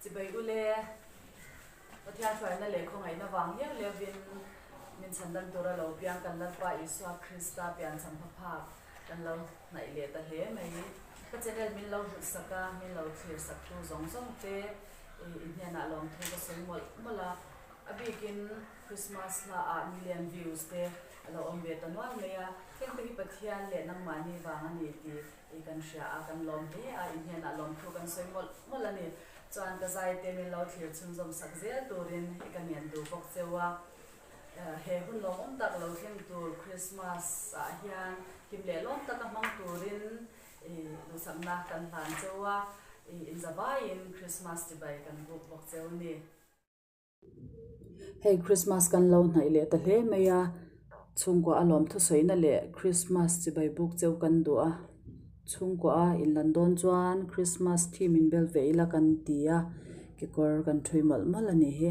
Chibai u le, Pathian faina leh khawngaihna vang hial levin min chhan dan tura lo biang kan Lalpa Isua Krista pian champha phak kan lo hnaih leh ta hle mai. Ka channel min lo hlutsak sak a, min lo chhir sak tu zawng zawng te i hnianah lawmthu ka sawi mawlh mawlh a, a bikin Christmas hla ah million views te a lo awm ve ta nual mai a, heng te hi Pathian leh nangmahni vang a ni ti I kan hria a, kan lawm hle a, i hnianah lawm thu kan sawi mawlh mawlh a ni. Chuan ka zaite min lo thlir chhunzawm sak zel turin i ka nian duh bawk cheu a. He hun lawmawm tak lo thleng tur Krismas ah hian him lehlawm taka hmang turin i duhsakna kan hlan cheu a, i inzavaiin Krismas tibai kan buk bawk cheu a ni. Hei Krismas kan lo hnaih leh ta hle mai a, chhungkua a lawm thusawiina leh Krismas chibai buk cheu kan duh a. Chhungkua a inlan dawn chuan Krismas theme in bel ve ila kan ti a, kekawr kan ṭhui mawlh mawlh a ni hi.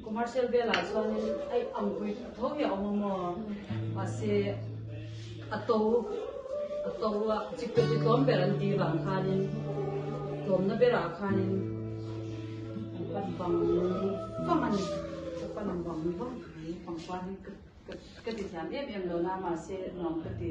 Commercial velah chuanin ai anpui thut tho hi a awm a maw? Mahse a to a to a chi pawh ti tlawm ber an tih vang khanin tlawmna berah khanin an pat vang vang a ni. Ka pat ang vang ni vang mai pangpar hi ka ka ka tithiam em em lo na mahse nuam ka ti.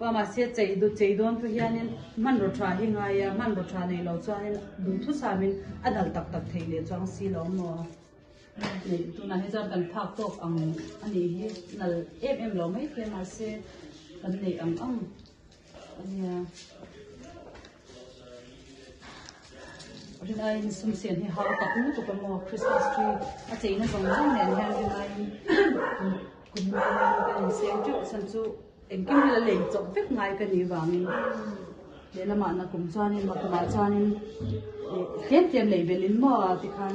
Mahse cheidawntu hianin hmanraw tha hi ngai a, hmanraw tha nei lo chuanin duh thu samin a dal tak tak theih leh chuang si lo maw? Neih tunah hi chuan kan phak tawk ang a nih hi, nal em em lo mai khi a mahse kan neih ang ang a nia. Ringain sum siam hi hau tak lutuk a maw? Christmas tree a cheina zawng zawng nen hian ringain kun hma ringain kan insem teuh chhan chu engkim hi la lei chawp vek ngai ka nih vangin lehlamah na kum chuanin na kumah chuanin tlem tlem lei belin maw tikhan